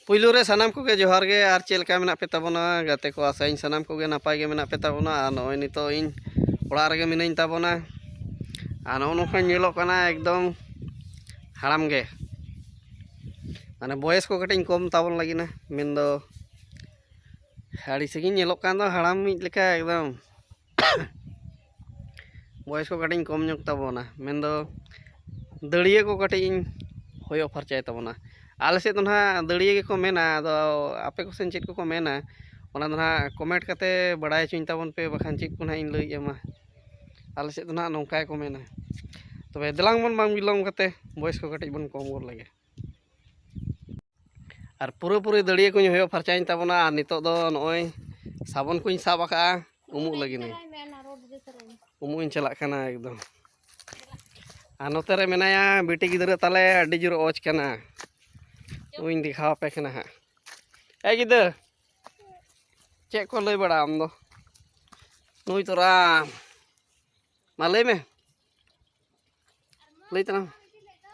ᱯᱩᱭᱞᱩ ᱨᱮ ᱥᱟᱱᱟᱢ ᱠᱚᱜᱮ ᱡᱚᱦᱟᱨ ᱜᱮ ᱟᱨ ᱪᱮᱫ ᱞᱮᱠᱟ ᱢᱮᱱᱟᱜ ᱯᱮ ᱛᱟᱵᱚᱱᱟ ᱜᱟᱛᱮ ᱠᱚ ᱟᱥᱟᱭᱟᱹᱧ ᱥᱟᱱᱟᱢ ᱠᱚᱜᱮ ᱱᱟᱯᱟᱭ ᱜᱮ ᱢᱮᱱᱟᱜ ᱯᱮ ᱛᱟᱵᱚᱱᱟ ᱟᱨ ᱱᱚᱜᱼᱚᱭ ᱱᱤᱛᱚᱜ ᱤᱧ ᱚᱲᱟᱜ ᱨᱮᱜᱮ ᱢᱤᱱᱟᱹᱧ ᱛᱟᱵᱚᱱᱟ ᱟᱨ ᱱᱚᱜᱼᱚ ᱱᱚᱝᱠᱟ ᱧᱮᱞᱚᱜ ᱠᱟᱱᱟ ᱮᱠᱫᱚᱢ ᱦᱟᱲᱟᱢ ᱜᱮ ᱢᱟᱱᱮ ᱵᱚᱭᱮᱥ ᱠᱚ ᱠᱟᱹᱴᱤᱡ ᱠᱚᱢ ᱛᱟᱵᱚᱱ ᱞᱟᱹᱜᱤᱫ ᱢᱮᱱᱫᱚ ᱟᱹᱰᱤ ᱥᱟᱺᱜᱤᱧ ᱧᱮᱞᱚᱜ ᱠᱟᱱ ᱫᱚ ᱦᱟᱲᱟᱢᱤᱡ ᱞᱮᱠᱟ ᱮᱠᱫᱚᱢ ᱵᱚᱭᱮᱥ ᱠᱚ ᱠᱟᱹᱴᱤᱡ ᱤᱧ ᱠᱚᱢ ᱧᱚᱜ ᱛᱟᱵᱚᱱᱟ ᱢᱮᱱᱫᱚ ᱫᱟᱹᱲᱭᱟᱹ ᱠᱚ ᱠᱟᱹᱴᱤᱡ ᱤᱧ ᱦᱚᱭᱚ ᱯᱷᱟᱨᱪᱟᱭ ᱛᱟᱵᱚᱱᱟ ᱟᱞᱮ ᱥᱮᱫ ᱫᱚ ᱦᱟᱸᱜ ᱫᱟᱹᱲᱭᱟᱹ ᱜᱮᱠᱚ ᱢᱮᱱᱟ ᱟᱫᱚ ᱟᱯᱮ ᱠᱚᱥᱮᱱ ᱪᱮᱫ ᱠᱚᱠᱚ ᱢᱮᱱᱟ ᱚᱱᱟ ᱫᱚ ᱦᱟᱸᱜ ᱠᱚᱢᱮᱱᱴ ᱠᱟᱛᱮ ᱵᱟᱲᱟᱭ ᱦᱚᱪᱚᱧ ᱛᱟᱵᱚᱱ ᱯᱮ ᱵᱟᱠᱷᱟᱱ ᱪᱮᱫ ᱠᱚ ᱦᱟᱸᱜ ᱤᱧ ᱞᱟᱹᱭ ᱟᱢᱟ ᱟᱞᱮ ᱥᱮᱫ ᱫᱚ ᱦᱟᱸᱜ ᱱᱚᱝᱠᱟ ᱜᱮᱠᱚ ᱢᱮᱱᱟ ᱛᱚᱵᱮ ᱫᱮᱞᱟᱝ ᱵᱚᱱ ᱵᱟᱝ ᱵᱤᱞᱚᱢ ᱠᱟᱛᱮ ᱵᱚᱭᱮᱥ ᱠᱚ ᱠᱟᱹᱴᱤᱡ ᱵᱚᱱ ᱠᱚᱢ ᱜᱚᱫ ᱞᱮᱜᱮ ᱟᱨ ᱯᱩᱨᱟᱹ ᱯᱩᱨᱟᱹ ᱫᱟᱹᱲᱤᱭᱟᱹ ᱠᱚᱧ ᱦᱚᱭᱚ ᱯᱷᱟᱨᱪᱟᱭᱮᱱ ᱛᱟᱵᱚᱱᱟ ᱟᱨ ᱱᱤᱛᱚᱜ ᱫᱚ ᱱᱚᱜᱼᱚᱭ ᱥᱟᱵᱚᱱ ᱠᱚᱧ ᱥᱟᱵ ᱟᱠᱟᱜᱼᱟ ᱩᱢᱩᱜ ᱞᱟᱹᱜᱤᱫ ᱩᱢᱩᱜ ᱤᱧ ᱪᱟᱞᱟᱜ ᱠᱟᱱᱟ ᱮᱠᱫᱚᱢ ᱟᱨ ᱱᱚᱛᱮ ᱨᱮ ᱢᱮᱱᱟᱭᱟ ᱵᱤᱴᱤ ᱜᱤᱫᱽᱨᱟᱹ ᱛᱟᱞᱮ ᱟᱹᱰᱤ ᱡᱳᱨ ᱚᱡᱽ ᱠᱟᱱᱟ ᱩᱧ ᱫᱮᱠᱷᱟᱣ ᱟᱯᱮ ᱠᱟᱱᱟ ᱦᱟᱸᱜ ᱮ ᱜᱤᱫᱟᱹᱨ ᱪᱮᱫ ᱠᱚ ᱞᱟᱹᱭ ᱵᱟᱲᱟ ᱟᱢ ᱫᱚ ᱱᱩᱭ ᱛᱚᱨᱟ ᱢᱟ ᱞᱟᱹᱭ ᱢᱮ ᱞᱟᱹᱭ ᱛᱟᱞᱟᱝ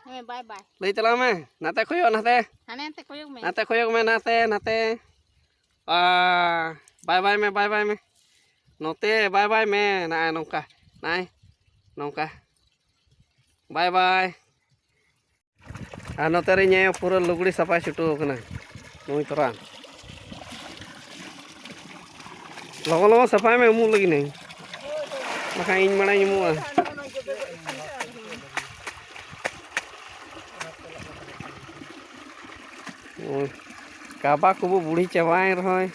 ᱦᱮᱸ ᱵᱟᱭ ᱵᱟᱭ ᱞᱟᱹᱭ ᱛᱟᱞᱟᱝ ᱢᱮ ᱱᱟᱛᱮ ᱠᱚᱭᱚᱜ ᱱᱟᱛᱮ ᱦᱟᱱᱮ ᱱᱟᱛᱮ ᱠᱚᱭᱚᱜ ᱢᱮ ᱱᱟᱛᱮ ᱠᱚᱭᱚᱜ ᱢᱮ ᱱᱟᱛᱮ ᱱᱟᱛᱮ ᱵᱟᱭ ᱵᱟᱭ ᱢᱮ ᱵᱟᱭ ᱵᱟᱭ ᱢᱮ ᱱᱚᱛᱮ ᱵᱟᱭ ᱵᱟᱭ ᱢᱮ ᱱᱟᱭ ᱱᱚᱝᱠᱟ ᱱᱟᱭ ᱱᱚᱝᱠᱟ ᱵᱟᱭ ᱵᱟᱭ ᱟᱨ ᱱᱚᱛᱮ ᱨᱮ ᱤᱧ ᱯᱩᱨᱟᱹ ᱞᱩᱜᱽᱲᱤ ᱥᱟᱯᱷᱟᱭ ᱪᱷᱩᱴᱟᱹᱣ ᱟᱠᱟᱱᱟ ᱱᱩᱭ ᱛᱚᱨᱟ ᱞᱚᱜᱚᱱ ᱞᱚᱜᱚᱱ ᱥᱟᱯᱷᱟᱭ ᱢᱮ ᱩᱢᱩᱜ ᱞᱟᱹᱜᱤᱫ ᱱᱟᱹᱧ ᱵᱟᱠᱷᱟᱱ ᱤᱧ ᱢᱟᱲᱟᱝ ᱩᱢᱩᱜᱼᱟ ᱠᱟᱵᱟ ᱠᱚᱵᱚ ᱵᱩᱲᱦᱤ ᱪᱟᱵᱟᱭᱮᱱ ᱨᱮᱦᱚᱸ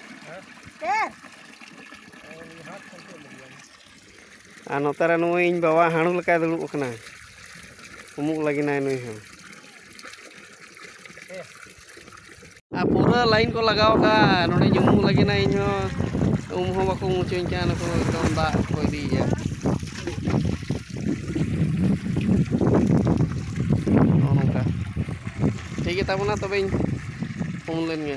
ᱟᱨ ᱱᱚᱛᱮ ᱨᱮ ᱱᱩᱭ ᱤᱧ ᱵᱟᱵᱟ ᱦᱟᱺᱬᱩ ᱞᱮᱠᱟᱭ ᱫᱩᱲᱩᱵ ᱟᱠᱟᱱᱟ ᱩᱢᱩᱜ ᱞᱟᱹᱜᱤᱫᱟᱭ ᱱᱩᱭ ᱦᱚᱸ ᱟᱨ ᱯᱩᱨᱟᱹ ᱞᱟᱭᱤᱱ ᱠᱚ ᱞᱟᱜᱟᱣ ᱟᱠᱟᱫᱼᱟ ᱱᱚᱰᱮᱧ ᱩᱢᱩᱜ ᱞᱟᱹᱜᱤᱫᱟ ᱤᱧ ᱦᱚᱸ ᱩᱢ ᱦᱚᱸ ᱵᱟᱠᱚ ᱩᱢ ᱦᱚᱪᱚᱧ ᱠᱟᱱᱟ ᱱᱩᱠᱩ ᱮᱠᱫᱚᱢ ᱫᱟᱜ ᱠᱚ ᱤᱫᱤᱭᱮᱫᱼᱟ ᱱᱚᱜᱼᱚ ᱱᱚᱝᱠᱟ ᱴᱷᱤᱠ ᱜᱮᱛᱟ ᱵᱚᱱᱟ ᱛᱚᱵᱮᱧ ᱩᱢ ᱞᱮᱱ ᱜᱮ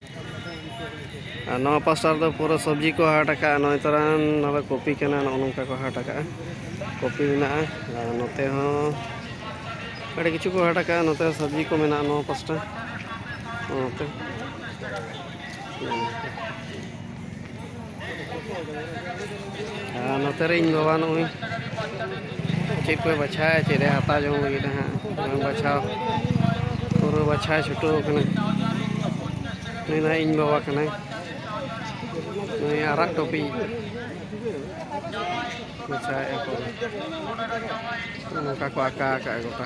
ᱟᱨ ᱱᱚᱣᱟ ᱯᱟᱥᱴᱟ ᱨᱮᱫᱚ ᱯᱩᱨᱟᱹ ᱥᱚᱵᱽᱡᱤ ᱠᱚ ᱦᱟᱴ ᱟᱠᱟᱫᱼᱟ ᱱᱚᱜᱼᱚᱭ ᱛᱚᱨᱟᱱ ᱱᱚᱣᱟ ᱫᱚ ᱠᱚᱯᱤ ᱠᱟᱱᱟ ᱱᱚᱜᱼᱚ ᱱᱚᱝᱠᱟ ᱠᱚ ᱦᱟᱴ ᱟᱠᱟᱫᱼᱟ ᱠᱚᱯᱤ ᱢᱮᱱᱟᱜᱼᱟ ᱟᱨ ᱱᱚᱛᱮ ᱦᱚᱸ ᱟᱹᱰᱤ ᱠᱤᱪᱷᱩ ᱠᱚ ᱦᱟᱴ ᱟᱠᱟᱫᱼᱟ ᱱᱚᱛᱮ ᱦᱚᱸ ᱥᱚᱵᱽᱡᱤ ᱠᱚ ᱢᱮᱱᱟᱜᱼᱟ ᱱᱚᱣᱟ ᱯᱟᱥᱴᱟ ᱱᱚᱛᱮ ᱟᱨ ᱱᱚᱛᱮ ᱨᱮ ᱤᱧ ᱵᱟᱵᱟ ᱱᱚᱜᱼᱚᱭ ᱪᱮᱫ ᱠᱚᱭ ᱵᱟᱪᱷᱟᱭᱟ ᱪᱮᱫ ᱮ ᱦᱟᱛᱟᱣ ᱡᱚᱝ ᱞᱟᱹᱜᱤᱫ ᱦᱟᱸᱜ ᱵᱟᱝ ᱵᱟᱪᱷᱟᱣ ᱯᱩᱨᱟᱹ ᱵᱟᱪᱷᱟᱣ ᱪᱷᱩᱴᱟᱹᱣ ᱠᱟᱱᱟ ᱱᱩᱭ ᱫᱚ ᱤᱧ ᱵᱟᱵᱟ ᱠᱟᱱᱟᱭ ᱱᱩᱭ ᱟᱨᱟᱜ ᱴᱚᱯᱤ ᱵᱟᱪᱷᱟᱣᱮᱫᱼᱟ ᱠᱚ ᱱᱚᱝᱠᱟ ᱠᱚ ᱟᱸᱠᱟ ᱟᱠᱟᱫᱼᱟ ᱜᱚᱴᱟ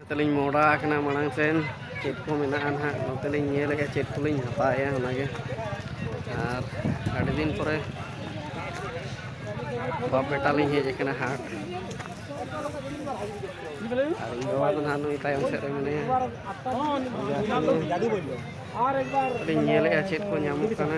ᱛᱟᱹᱞᱤᱧ ᱢᱚᱦᱰᱟ ᱟᱠᱟᱱᱟ ᱢᱟᱲᱟᱝ ᱥᱮᱱ ᱪᱮᱫ ᱠᱚ ᱢᱮᱱᱟᱜᱼᱟ ᱱᱟᱦᱟᱜ ᱱᱚᱛᱮ ᱞᱤᱧ ᱧᱮᱞᱮᱜᱼᱟ ᱪᱮᱫ ᱠᱚᱞᱤᱧ ᱦᱟᱛᱟᱣᱮᱜᱼᱟ ᱚᱱᱟᱜᱮ ᱟᱨ ᱟᱹᱰᱤ ᱫᱤᱱ ᱯᱚᱨᱮ ᱵᱟᱯ ᱵᱮᱴᱟ ᱞᱤᱧ ᱦᱮᱡ ᱟᱠᱟᱱᱟ ᱦᱟᱴ ᱟᱨ ᱤᱧ ᱵᱟᱵᱟ ᱫᱚ ᱱᱟᱦᱟᱜ ᱱᱩᱭ ᱛᱟᱭᱚᱢ ᱥᱮᱫ ᱨᱮ ᱢᱮᱱᱟᱭᱟ ᱞᱤᱧ ᱧᱮᱞᱮᱜᱼᱟ ᱪᱮᱫ ᱠᱚ ᱧᱟᱢᱚᱜ ᱠᱟᱱᱟ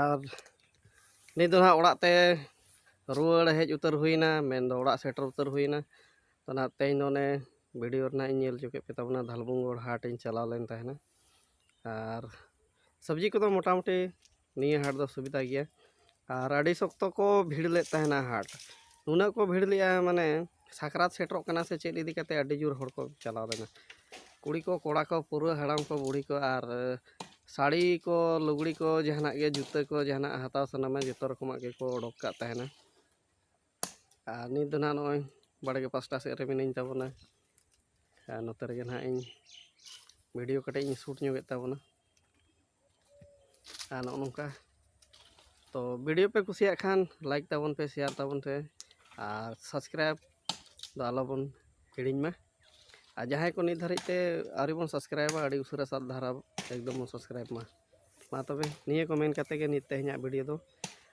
ᱟᱨ ᱱᱤᱛ ᱫᱚ ᱦᱟᱸᱜ ᱚᱲᱟᱜ ᱛᱮ ᱨᱩᱣᱟᱹᱲ ᱦᱮᱡ ᱩᱛᱟᱹᱨ ᱦᱩᱭᱱᱟ ᱢᱮᱱ ᱫᱚ ᱚᱲᱟᱜ ᱥᱮᱴᱮᱨ ᱩᱛᱟᱹᱨ ᱦᱩᱭᱱᱟ ᱛᱚ ᱱᱟᱦᱟᱜ ᱛᱮᱦᱮᱧ ᱫᱚ ᱚᱱᱮ ᱵᱷᱤᱰᱤᱭᱳ ᱨᱮᱱᱟᱜ ᱤᱧ ᱧᱮᱞ ᱦᱚᱪᱚ ᱠᱮᱫ ᱯᱮ ᱛᱟᱵᱚᱱᱟ ᱫᱷᱟᱞᱵᱷᱩᱝᱜᱚᱲ ᱦᱟᱴ ᱤᱧ ᱪᱟᱞᱟᱣ ᱞᱮᱱ ᱛᱟᱦᱮᱱᱟ ᱟᱨ ᱥᱚᱵᱽᱡᱤ ᱠᱚᱫᱚ ᱢᱚᱴᱟᱢᱩᱴᱤ ᱱᱤᱭᱟᱹ ᱦᱟᱴ ᱫᱚ ᱥᱩᱵᱤᱫᱟ ᱜᱮᱭᱟ ᱟᱨ ᱟᱹᱰᱤ ᱥᱚᱠᱛᱚ ᱠᱚ ᱵᱷᱤᱲ ᱞᱮᱫ ᱛᱟᱦᱮᱱᱟ ᱦᱟᱴ ᱩᱱᱟᱹᱜ ᱠᱚ ᱵᱷᱤᱲ ᱞᱮᱫᱼᱟ ᱢᱟᱱᱮ ᱥᱟᱠᱨᱟᱛ ᱥᱮᱴᱮᱨᱚᱜ ᱠᱟᱱᱟ ᱥᱮ ᱪᱮᱫ ᱤᱫᱤ ᱠᱟᱛᱮᱫ ᱟᱹᱰᱤ ᱡᱳᱨ ᱦᱚᱲ ᱠᱚ ᱪᱟᱞᱟᱣ ᱞᱮᱱᱟ ᱠᱩᱲᱤ ᱠᱚ ᱠᱚᱲᱟ ᱠᱚ ᱯᱩᱨᱟᱹ ᱦᱟᱲᱟᱢ ᱠᱚ ᱵᱩᱲᱦᱤ ᱠᱚ ᱟᱨ ᱥᱟᱹᱲᱤ ᱠᱚ ᱞᱩᱜᱽᱲᱤ ᱠᱚ ᱡᱟᱦᱟᱱᱟᱜ ᱜᱮ ᱡᱩᱛᱟᱹ ᱠᱚ ᱡᱟᱦᱟᱱᱟᱜ ᱦᱟᱛᱟᱣ ᱥᱟᱱᱟᱢᱟ ᱡᱚᱛᱚ ᱨᱚᱠᱚᱢᱟᱜ ᱜᱮᱠᱚ ᱚᱰᱚᱠ ᱠᱟᱜ ᱛᱟᱦᱮᱱᱟ ᱟᱨ ᱱᱤᱛ ᱫᱚ ᱱᱟᱦᱟᱜ ᱱᱚᱜᱼᱚᱭ ᱵᱟᱲᱜᱮ ᱯᱟᱥᱴᱟ ᱥᱮᱫ ᱨᱮ ᱢᱤᱱᱟᱹᱧ ᱛᱟᱵᱚᱱᱟ ᱟᱨ ᱱᱚᱛᱮ ᱨᱮᱜᱮ ᱱᱟᱦᱟᱜ ᱤᱧ ᱵᱷᱤᱰᱤᱭᱳ ᱠᱟᱹᱴᱤᱡ ᱤᱧ ᱥᱩᱴ ᱧᱚᱜᱮᱫ ᱛᱟᱵᱚᱱᱟ ᱟᱨ ᱱᱚᱜᱼᱚ ᱱᱚᱝᱠᱟ ᱛᱚ ᱵᱷᱤᱰᱤᱭᱳ ᱯᱮ ᱠᱩᱥᱤᱭᱟᱜ ᱠᱷᱟᱱ ᱞᱟᱭᱤᱠ ᱛᱟᱵᱚᱱ ᱯᱮ ᱥᱮᱭᱟᱨ ᱛᱟᱵᱚᱱ ᱯᱮ ᱟᱨ ᱥᱟᱵᱥᱠᱨᱟᱭᱤᱵ ᱫᱚ ᱟᱞᱚᱵᱚᱱ ᱦᱤᱲᱤᱧ ᱢᱟ ᱟᱨ ᱡᱟᱦᱟᱸᱭ ᱠᱚ ᱱᱤᱛ ᱫᱷᱟᱹᱨᱤᱡ ᱛᱮ ᱟᱹᱣᱨᱤ ᱵᱚᱱ ᱥᱟᱵᱥᱠᱨᱟᱭᱤᱵᱟ ᱟᱹᱰᱤ ᱩᱥᱟᱹᱨᱟ ᱥᱟᱵ ᱫᱷᱟᱨᱟ ᱮᱠᱫᱚᱢ ᱵᱚᱱ ᱥᱟᱵᱥᱠᱨᱟᱭᱤᱵ ᱢᱟ ᱢᱟ ᱛᱚᱵᱮ ᱱᱤᱭᱟᱹ ᱠᱚ ᱢᱮᱱ ᱠᱟᱛᱮ ᱜᱮ ᱱᱤᱛ ᱛᱮᱦᱮᱧᱟᱜ ᱵᱷᱤᱰᱤᱭᱳ ᱫᱚ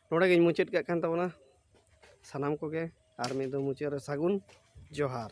ᱱᱚᱰᱮ ᱜᱤᱧ ᱢᱩᱪᱟᱹᱫ ᱠᱟᱜ ᱠᱟᱱ ᱛᱟᱵᱚᱱᱟ ᱥᱟᱱᱟᱢ ᱠᱚᱜᱮ ᱟᱨ ᱢᱤᱫ ᱫᱚ ᱢᱩᱪᱟᱹᱫ ᱨᱮ ᱥᱟᱹᱜᱩᱱ ᱡᱚᱦᱟᱨ